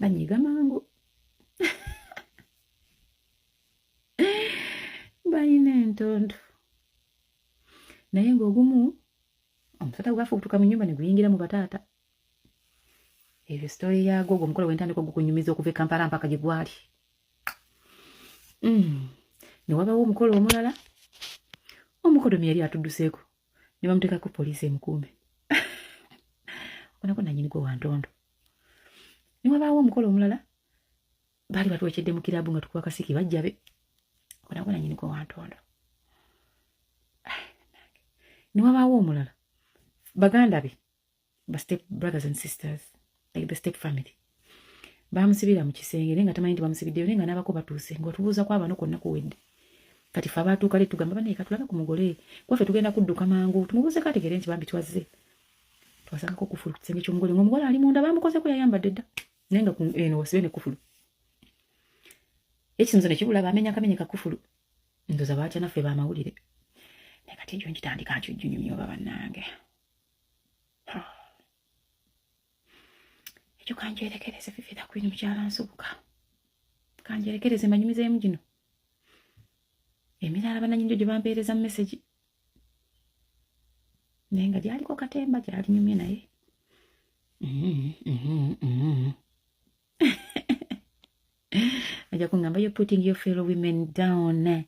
banyiga mangu balina entondo naye ngaogumu omusota gwafe okutuka mu nyumba neguyingira mu bataata ebyo sitole yaago ogwo omukolo wentandika ogukunyumiza okuva ekampala mpaka gye gwali mm. newabawo omukolo omulala omukodomi yali atuduseeko ne bamuteekako poliisi emukuume onako nanyini gwe wantondo ne wabaawo omukolo omulala baali batwekedde mu kiraabu nga tukuba kasiki bajjabe onako nanyini gwe wantondo ne wabaawo omulala baganda be ba step brothers and sisters like the step family bamusibira mu kisenge naye nga tamanyi nti bamusibiddeyo naye nga n'abako batuuse nga otubuuza kwaba no kwonna kuwedde kati fe abaatuuka le tugamba banaye katulabe ku mugole kwaffe tugenda kudduka mangu tumubuuzeko ategeere nti bambi twazze twasangako kufulu ku kisenge ky'omugole ngaomugole ali munda bamukozeko yayambadde dda naye nga eno wasibe ne kufulu ekisinzo ne kibula bamenya akamenye ka kufulu ndoza baatya naffe bamawulire naye kati ejo nkitandika nkyujjunyumyoba bannange ekyo kanjerekereze fifitha kwini mukyala nsubuka kanjerekereze manyumizeemu gino emirala bananyinjo gye bampeereza mu mesegi naye nga gyaliko katemba gyalinyumye naye aja kungamba yo putting your fellow women down eh?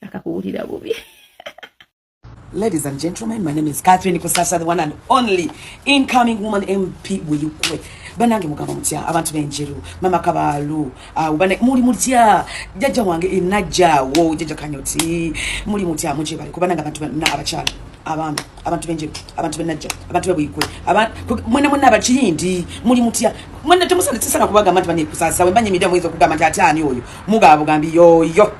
akakuwulira bubi Ladies and gentlemen, my name is Catherine Kusasa, the one and only incoming woman MP Buyukwe. Banange mugamba mutya abantu benjeru mama kabalu ah, ubane muli mutya jaja wange inaja wo jaja kanyoti muli mutya muje bali kubananga abantu na abakyala abami abantu benje abantu benajja abantu bebuyikwe mwena mwena abakiyindi muli mutya mwena temusana tisana kubaga abantu banekusasawe mbanye mida mwezo kugamba nti ate ani oyo mugabo gambi yoyo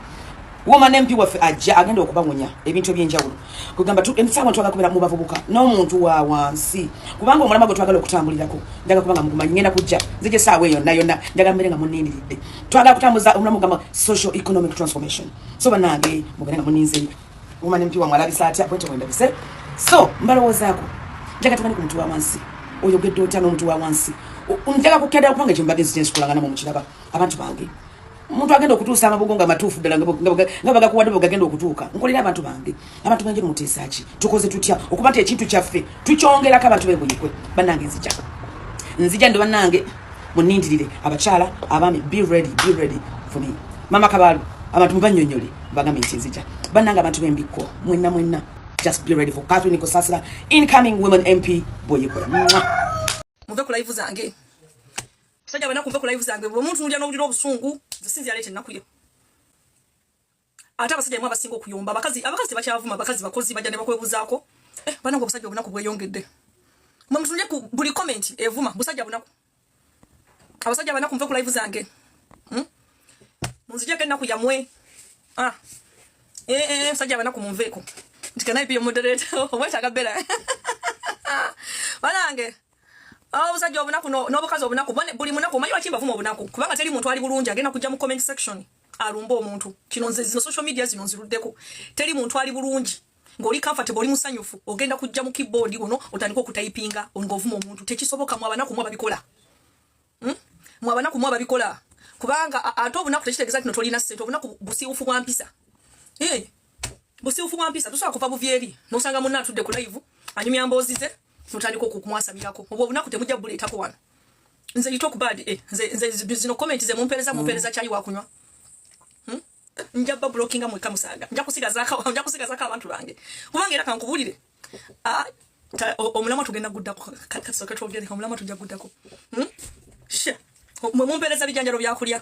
woma nempi waffe ajja agenda okubawonya ebintu ebyenjawulo kugamba esawa twagala kubera mu bavubuka n'omuntu wa wansi kubanga omulama gwe twagala okutambulirako njaga kubanga mugumanyi ngenda kujja nze gye saawa eyo nayona njaga mbere nga munindiridde twagala kutambuza omulamu gamba social economic transformation so banange mugende nga muninze Woman MP wa mwalabisa atya bwete wendabise. So mbalowoozaako njaga tubane ku muntu wa wansi oyogedde otya n'omuntu wa wansi njaga kukeda kubanga ekyo mbadde nzija nsikulanganamu mukiraba abantu bange omuntu agenda okutuusa amabugo nga matuufu ddala nga bagakuwadde bwegagenda okutuuka nkolera abantu bange abantu bange muteesaaki tukoze tutya okuba nti ekintu kyaffe tukyongerako abantu bebuyikwe bannange nzija nzija ndi bannange munindirire abakyala abaami be ready be ready for me mama kabaalu abantu mubanyonyole bagambe nti nzija bannanga abantu bembikko mwenna mwenna just be ready for catherine kusasira incoming women mp boyikola muve ku live zange sajja banaku muve ku live zange bwomuntu ndya nowulira obusungu nze sinzi yaleeta ennaku yo ate abasajja bemwe abasinga okuyomba abakazi abakazi tebakyavuma abakazi bakozi bajja ne bakwebuzaako eh, banange obusajja obunaku bweyongedde mwe mutunule ku buli comment evuma busajja bunaku abasajja banaku nve ku live zange hmm? munzijeko ennaku yamwe ah. eh, eh, eh, musajja banaku munveeko nti kanaipi yomodereta obwetaaga bera banange obusajja obunaku n'obukazi obunaku buli munaku omanyi lwaki mbavuma obunaku kubanga teri muntu ali bulungi agenda kujja mu comment section alumba omuntu kino nze zino social media zino nziruddeko teri muntu ali bulungi ngoli comfortable oli musanyufu ogenda kujja mu keyboard wono otandika okutayipinga ongovuma omuntu tekisoboka mu abana kumwa babikola hmm? mu abana kumwa babikola kubanga ate obunaku tekitegeza nti tolina ssente obunaku busiwufu bwa mpisa eh, busiwufu bwa mpisa tosobola kuva buvyeri nosanga munna atudde ku live anyumya mboozi ze notandika okumwasamirako obwo obunaku temujja buleetako wano nze you talk bad eh nze nze zino comment ze mumpereza mumpereza mm. chai wakunywa hmm? nja ba blockinga mu kamusaga nja kusiga zaka nja kusiga zaka abantu bange kubange era kankubulire ah omulama tugenda gudda ko kasoka twogere omulama tujja gudda ko hmm? she mumpereza bijanjalo byakulya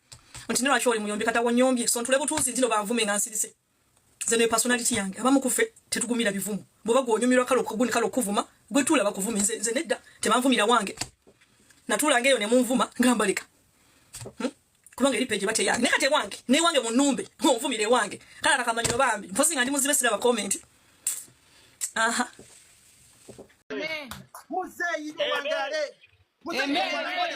nti nolwaki oli muyombi kata wonyombye so ntule butuuzi ntino banvume nga nsirise nze ne personality yange abamu kufe tetugumira bivumu bwoba gwonyumirwa kale okuguni kale okuvuma gwe tuula bakuvuma nze, nze nedda tebanvumira wange natuulanga eyo ne munvuma nga mbaleka hmm? kubanga eri peje bate yange nekate wange ne wange munumbe munvumire wange kala nakamanyo bambi mpozi nga ndi muzibe sira ba comment aha amen muzeyi wangale muzeyi wangale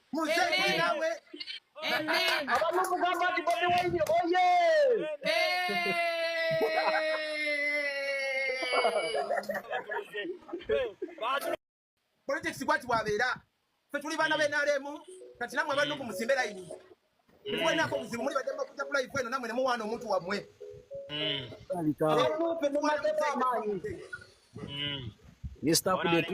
Muzee nawe. Amen. Abantu mugamba nti Bobi Wine oye. Politics kwati bwabeera. Ffe tuli baana b'enaremu kati namwe abantu ku musimbe layini. Mwenako muzimu muli badde makuta ku live eno namwe ne muwaana omuntu wammwe. Mm. Mr. Kudetu.